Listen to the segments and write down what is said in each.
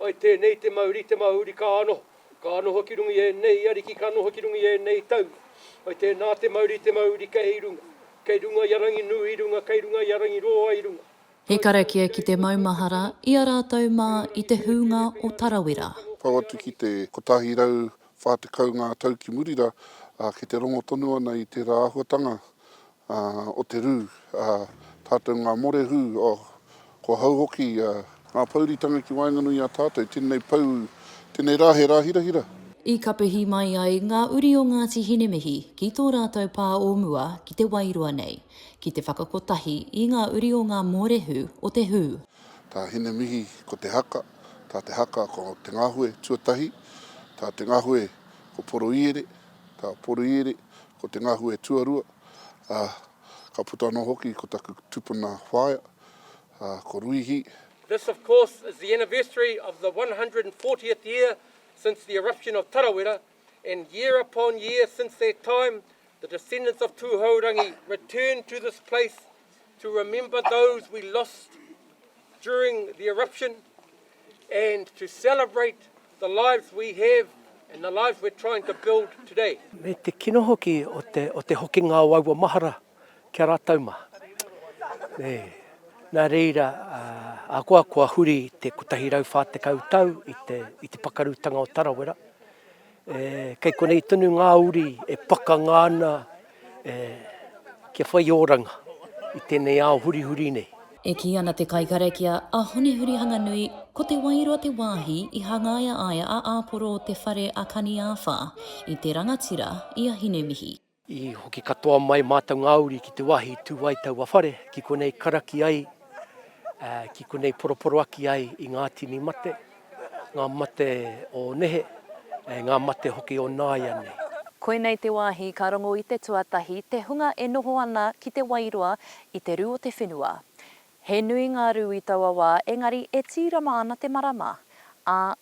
I tēnei te mauri, te mauri ka noho, ka noho ki runga i ēnei ariki, ka noho ki runga i ēnei taua. I tēnā te mauri, te mauri kei runga, kei runga i a Ranginui i runga, kei runga i a Rangiroa i runga. He karakia ki te maumahara i a rātou mā i te hūnga o Tarawera. Pau atu ki te 140 ngā tau ki muri rā, ā, kei te rongo tonu ana i tērā āhuatanga Ā, o te rū, ā, tātou ngā morehū, ā, kua hau hoki a. Ngā pouritanga ki waenganui i a tātou, tēnei pou, tēnei rā he rā hirahira. I kapihi mai ai ngā uri o Ngāti Hinemihi ki tō rātou pā o mua ki Te Wairoa nei, ki te whakakotahi i ngā uri o ngā mōrehu o te hū. Tā Hinemihi ko Te Haka, tā Te Haka ko Te Ngahue tuatahi, tā Te Ngahue ko Poroiere, tā Poroiere Ko te ngahu e tuarua, ā, ka puta anō hoki ko taku tupuna whaea, ā, ko Ruihi. This of course is the anniversary of the one hundred and fortieth year since the eruption of Tarawera and year upon year since that time the descendants of Tuhourangi return to this place to remember those we lost during the eruption and to celebrate the lives we have and the lives we're trying to build today. Me te kino hoki o te, o te hokinga o aua mahara ki a rātou mā. E, nā reira, ahakoa kua huri te 140 tau i te, i te pakarutanga o Tarawera, E, kei konei tonu ngā uri e pakanga ana e, kia whai oranga i tēnei ao hurihuri nei. E kī ana te kaikarakia, a Hone Hurihanganui, ko Te Wairoa te wāhi i hangaia ai a Āporo o te whare a Kaniāwha, i te rangatira i a Hinemihi. I hoki katoa mai mātou ngā uri ki te wāhi i tū ai taua whare, ki konei karaki ai, ki konei poroporoaki ai i ngā tini mate, ngā mate o nehe, ngā mate hoki o nāianei. Koinei te wāhi ka rongo i te tuatahi te hunga e noho ana ki te wairua i te rū o te whenua. He nui ngā rū i taua wā engari e tīrama ana te marama, ā,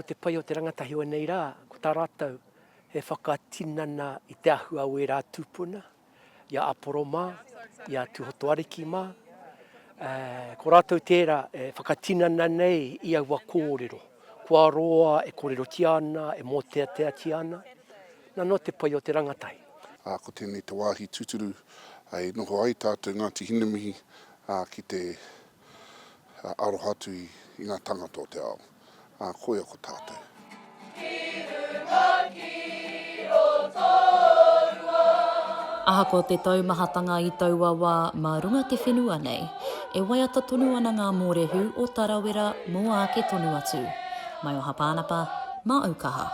Ko te pai o te rangatahi o ēnei rā, ko tā rātou he whakatinana i te ahua o ērā tūpuna, i a Aporo mā, i a Tūhotoariki mā, ā, ko rātou tērā e whakatinana nei i aua kōrero, kua roa e kōrerotia ana, e mōteateatia ana, nā, nō te pai o te rangatahi. Ā, ko tēnei te wāhi tūturu e noho ai tātou Ngāti Hinemihi, ā, ki te aroha atu i ngā tāngata o te ao. ā, koia ko tātou. Ahakoa te taumahatanga i taua wā mā runga te whenua nei, e waiata tonu ana ngā mōrehu o Tarawera mō āke tonu atu. Maioha Pānapa, māu kaha.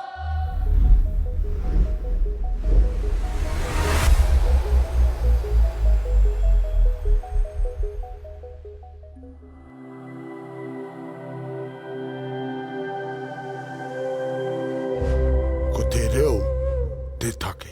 Ko te reo te take.